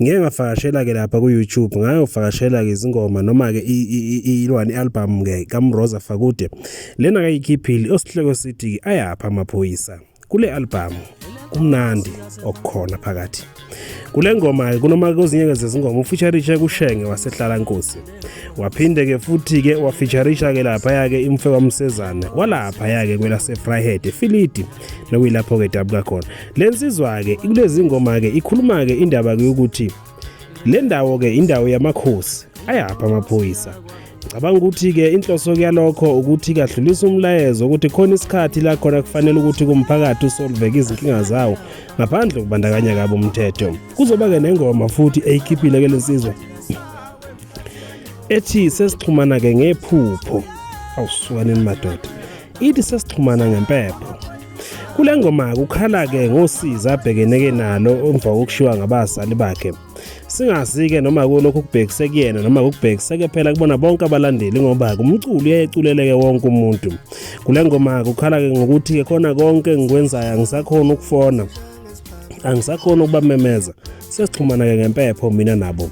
Ngike ngavakashela-ke lapha ku-YouTube ngayovakashela-ke izingoma noma-ke ilwani i-albhamu-ke kaMroza Fakude. Lena kayikhiphile osihloko sithi-ke ayaphi amaphoyisa. Kule albhamu kumnandi okukhona phakathi. Kule ngoma-ke kunoma kwezinye zezingoma ufeature Kushenge wasehlala Nkosi. waphinde ke futhi ke wafeaturisha ke lapha yake imfe kwamsezana walapha yake kwelase Fryhead eFilidi nokuyilapho ke dabuka khona lensizwa ke kulezi ngoma ke ikhuluma ke indaba ke ukuthi le ndawo ke indawo yamakhosi ayapha amaphoyisa cabanga ukuthi ke inhloso kuyalokho ukuthi kadlulisa umlayezo ukuthi khona isikhathi la khona kufanele ukuthi kumphakathi usolveke izinkinga zawo ngaphandle kubandakanya kabo umthetho kuzoba ke nengoma futhi eyikhiphile ke lensizwa ethi sesixhumana ke ngephupho awusukaneni madoda ithi sesixhumana ngempepho kule ngoma kukhala ke ngosiza abhekeneke nalo emva kokushiwa ngabazali bakhe singazi-ke noma kulokhu kubhekise kuyena noma kubhekiseke phela kubona bonke abalandeli ngoba kumculo uyayeculeleke wonke umuntu kule ngoma kukhala-ke ngokuthi-ke khona konke engikwenzayo angisakhona ukufona angisakhona ukubamemeza sesixhumana-ke ngempepho mina nabo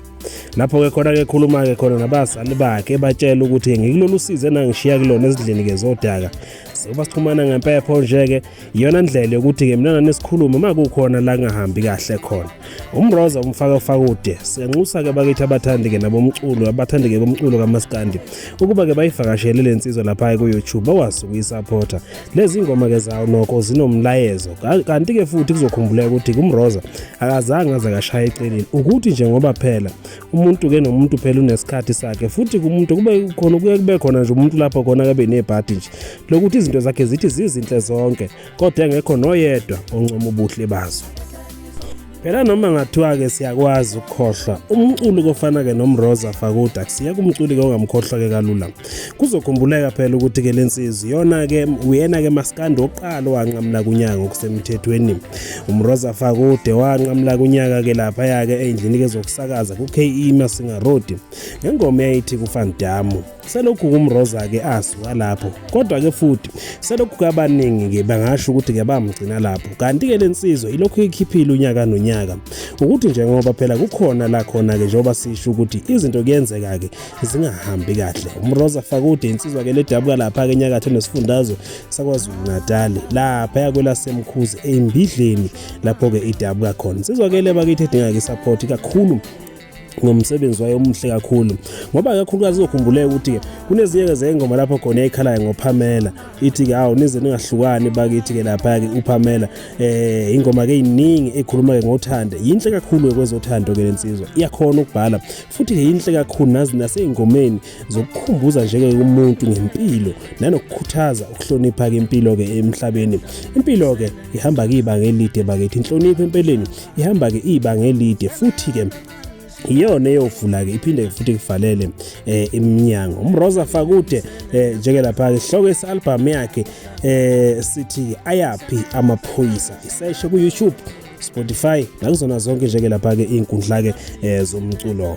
lapho-ke khona-ke khuluma-ke khona nabazali bakhe ebatshela ukuthi ngikulolu size nangishiya kulona ezindlini-ke zodaka sekuba sixhumana ngempepho nje-ke iyona ndlela yokuthi-ke mina nanisikhulume uma kukhona la ngahambi kahle khona umroza umfaka fakude siyanxusa-ke bakithi abathandi-ke nabomculo abathandi-ke bomculo kamaskandi ukuba-ke bayivakashele le nsizwa lapha-ke ku-youtube bakwazi ukuyisaphotha lezi ngoma ke zawo nokho zinomlayezo kanti ke futhi kuzokhumbuleka ukuthi kumroza akazange aze kashaya eceleni ukuthi nje ngoba phela umuntu ke nomuntu phela unesikhathi sakhe futhi kumuntu kube khona kuye kube khona nje umuntu lapho khona kabe nebhadi nje lokuthi izinto zakhe zithi zizinhle zonke kodwa engekho noyedwa oncoma ubuhle bazo phela noma ngathiwa-ke siyakwazi ukukhohlwa umculi kofana-ke nomroza fakuda kusiya kumculi-ke ongamkhohlwa-ke kalula kuzokhumbuleka phela ukuthi-ke le nsizwa iyona-ke uyena-ke masikandi wokuqala owanqamula kunyaka ngokusemthethweni umroza fakude wanqamula kunyaka-ke laphaya-ke ey'ndlini-ke zokusakaza ku-ke masinga road ngengoma eyayithi kufandamu selokhu kumroza-ke asuka lapho kodwa-ke futhi selokhu kabaningi-ke bangasho ukuthi-ke bamgcina lapho kanti-ke le nsizwa ilokhu ikhiphile unyaka nonyaka ukuthi njengoba phela kukhona la khona-ke njengoba sisho ukuthi izinto kuyenzeka-ke zingahambi kahle umroza fakude insizwa-ke ledabuka lapha-ke enyakatho nesifundazwe sakwazulu-natali lapha yakwelasemkhuzi embidleni lapho-ke idabuka khona insizwa-ke le bakithi edinga-ke isaphothi kakhulu ngomsebenzi wayo omuhle kakhulu ngoba kakhulukazi uzokhumbuleka ukuthi kunezinye zengoma lapho khona ekhalayo ngoPamela ithi ke hawu nize ningahlukani bakithi ke lapha ke uPamela eh ingoma ke iningi ekhuluma ke ngothando yinhle kakhulu kwezothando ke lensizwa iyakhona ukubhala futhi ke yinhle kakhulu nazi naseyingomeni zokukhumbuza nje ke umuntu ngempilo nanokukhuthaza ukuhlonipha ke impilo ke emhlabeni impilo ke ihamba kiba ngelide bakithi inhlonipho empeleni ihamba ke ibanga elide futhi ke iyona eyovula ke iphinde futhi kuvalele eh, iminyango umroza fakude eh, njeke lapha ke hloko esalbum yakhe eh, sithi ayaphi amaphoyisa iseshe ku YouTube Spotify nakuzona zonke njeke lapha ke inkundla ke eh, zomculo